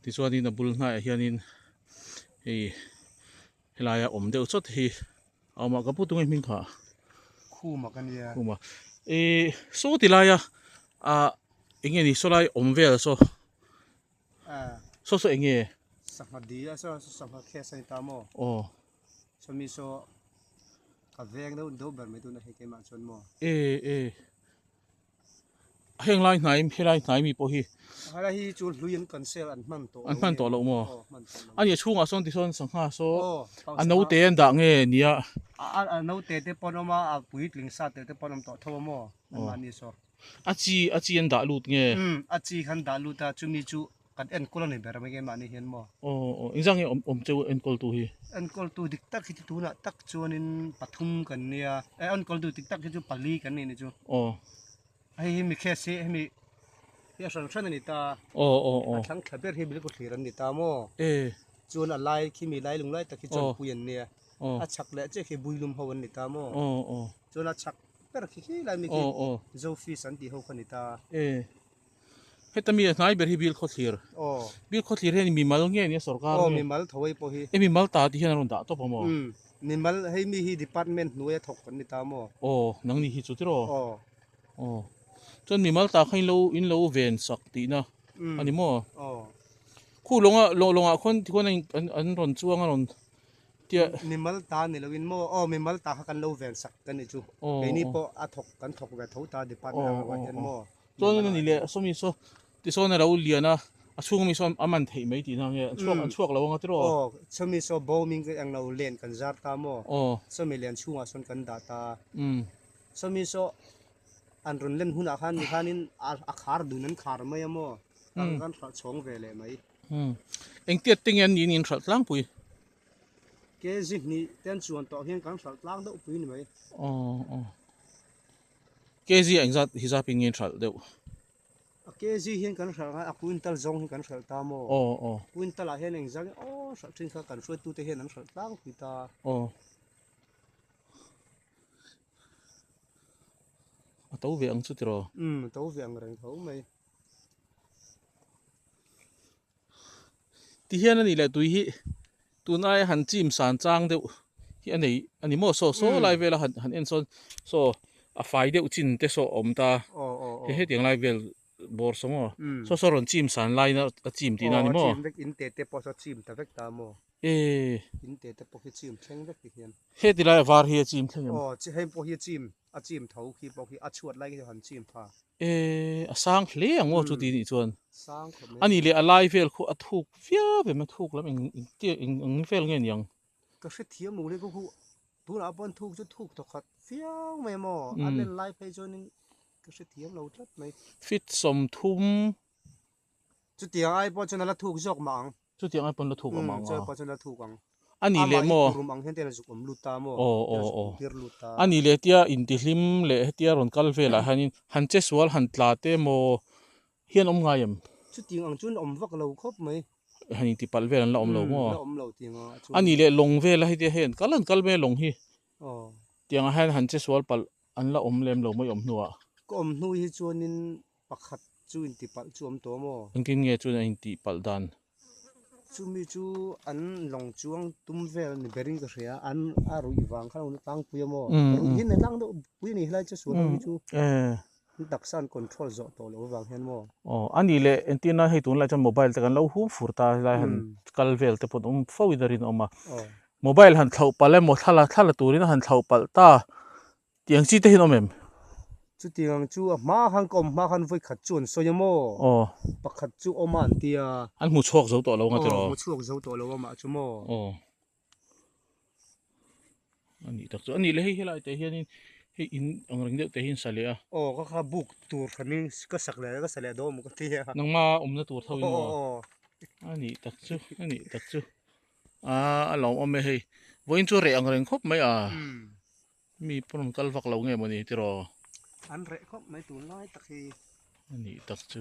Tichuanin a bul hnaiah hianin hei helai a awm deuh chawt hi a awm a ka pu tunge hming kha khuma ka nia khuma e saw ti laia a enge ni saw lai awm vel saw a saw saw enge sangha di a saw sangha khe sai ta mo o saw mi saw ka veng deuh deuh ber mai tu na he ke ma chon mo e e Heng lai hnai em helai hnai mi pawh hi. Helai hi chu hlui an cancel an hman tawh lo em. An hman tawh lo maw? Aw hman tawh lo. Ania chhungah sawn tisawn sangha saw a naute an dah nge nia. A naute te pawn awm a a puitling sa tel te pawn awm tawh tho a maw? Anmahni saw. A chi a chi an dah lut nge. Umm a chi khan dah lut a chumi chu Kan enkawl a ni ber mai em mahni hian maw? Aw aw, engzah nge awm awm che u enkawltu hi? Enkawltu dik tak hi chu tunah tak chuanin pathum kan nia, eh enkawltu dik tak hi chu pali kan nih ni chu. Aw. Hei hi mi case hi hemi hi a hran hran a ni ta. Aw aw aw. A thlang thla ber hi Bilku Thlir an ni ta maw? E. Chuan a lai khi mi lai lung lai tak hi chuan Pui an nia. Aw. A chhak leh che khi Builum ho an ni ta maw? Aw aw. Chuan a chhak ber khi khi lai mi khi Zofis an tih ho kha a ni ta. E. Heta mite hnai ber hi bil khawthlir. Aw. Bil khawthlir hian mimal nge nia sorkar nge. Aw mimal tho ei pawh hi. E mimal ta tih hian an rawn dah tawp ang maw? Umm. Mimal hei mi hi department hnuai a thawk kan ni ta maw? Aw nang nih hi chu tiraw? Aw. Aw. Chuan mimal ta kha in lo in lo ven sak tihna a ni maw? Aw. Khu lawnga lawng lawngah khawn tikhuan a in an an rawn chuang a rawn tia. Mimal ta ni lo in maw? Aw mimal ta kha kan lo ven sak ka ni chu. Aw. Keini pawh a thawk kan thawk ve tho ta department ang ah hian maw? Chuan nge ni leh Sawmi saw tisawn a lo lian a, a chhung mi saw a man theih mai tihna nge? An chhuak an chhuak lo ang a tiraw? Aw, Sawmi saw bo min zet ang lo, len kan zar ta maw? Aw. Sawmi len chhungah sawn kan dah ta a. Umm. Sawmi saw an rawn len hunah khan mi khanin a khar dun an khar mai a maw? Kan kan hralh chhawng ve leh mai. Umm. Engtiat te nge an niin in hralh tlangpui? Kezi hnih ten chuan tawh hian kan hralh tlang deuh pui ni mai. Aw aw. KZ a engzat hi zap in nge hralh deuh? A KZ hian kan hralh ngai a, a quintal zawng hi kan hralh ta maw? Aw aw. Quintal ah hian engzat nge aw hralh thin kha kan hruaitu te hian an hralh tlang pui ta. Aw. A to ve ang chu tiraw? Umm a to ve ang reng tho mai. ti hian a nih leh tui hi tun aia han chim san chang deuh hi a nei a ni maw saw saw lai vela han han en sawn saw a fai deuh chin te saw a awm ta he hetiang lai vel bawr saw maw saw saw rawn chim san lai na a chim tihna a ni maw in te te pawh saw chim ta vek ta maw e in te te pawh hi chim thleng vek ti hian heti lai a var hi a chim thleng em aw heng pawh hi a chim A chim tho khi pawh khi a chhuat lai khi chu han chim kha. E, a sang hle ang aw chuti nih chuan. Sang khawp mai. A nih leh a lai vel khuh a thuk viau em a thuk lam eng eng eng vel nge niang. Ka hrethiam lo le ka hu. Tunah pawh an thuk chu thuk tha khat viau mai maw. A nen lai phei chuan in ka hrethiam lo tlat mai. Fitsawm thum. Chutiang ai pawh chuan a la thuk zawk mah ang. Chutiang ai pawh la thuk a mang a. Chutiang ai pawh chuan la thuk ang. A nih leh maw? Amah hi kurum ang hian te la zuk awm lut ta maw? Aw aw aw. Te la zuk intir lut ta. A nih leh tia intihlim leh hetia rawn kal velah hianin han che sual han tla te maw hian awm ngai em? Chutiang ang chuan awm vak lo khawp mai. Han intipalh vel an la awm lo maw? La awm lo tiang a a chuang. A nih leh lawng vela hetia hei an kal han kal mai a lawng hi. Aw. Tiangah hian han che sual palh an la awm lem lo mai awm hnuah. Ka awm hnu hi chuanin Pakhat chu intipalh chu awm tawh maw? Engtin nge chuan a intihpalh dan? Chumi chu an lawng chuang tum vel a ni ber in ka hria a, an a ruih vang kha a tlangpui a maw? Ka ruih hi an ni a tlang deuh pui a ni helai chu sualho hi chu an taksa an control zawh tawh loh avang hian maw? Aw a ni le, entirna hei tunlai chuan mobile te kan lo hum fur ta helai han kal vel te pawh awm fo in a rinawm a, mobile han thloh palh emaw thla la turin a han thloh palh ta Tiang chi te hian awm em? Chu tiang chu a hma khan ka awm hma khan vawi khat chu an sawi a maw? Aw. Pakhat chu awm a an ti a. An hmu chhuak zo tawh lo nga tiraw? Aw hmu chhuak zo tawh lo a mah chu maw? Aw. A nih tak chu a nih le hei helai te hianin hei in ang reng deuh te hi an sa leh a. Aw ka kha buk tur hranin ka sak leh ka sa leh dawn a maw ka ti a. Nang hma awmna tur tho in maw? Aw aw. A nih tak chu a nih tak chu. Aa a lo awm e hei vawiin chu a reh ang reng khawp mai a. Umm. Mi pawn rawn kal vak lo nge maw ni tiraw. An reh khawp mai tun lai tak hi. A nih tak chu.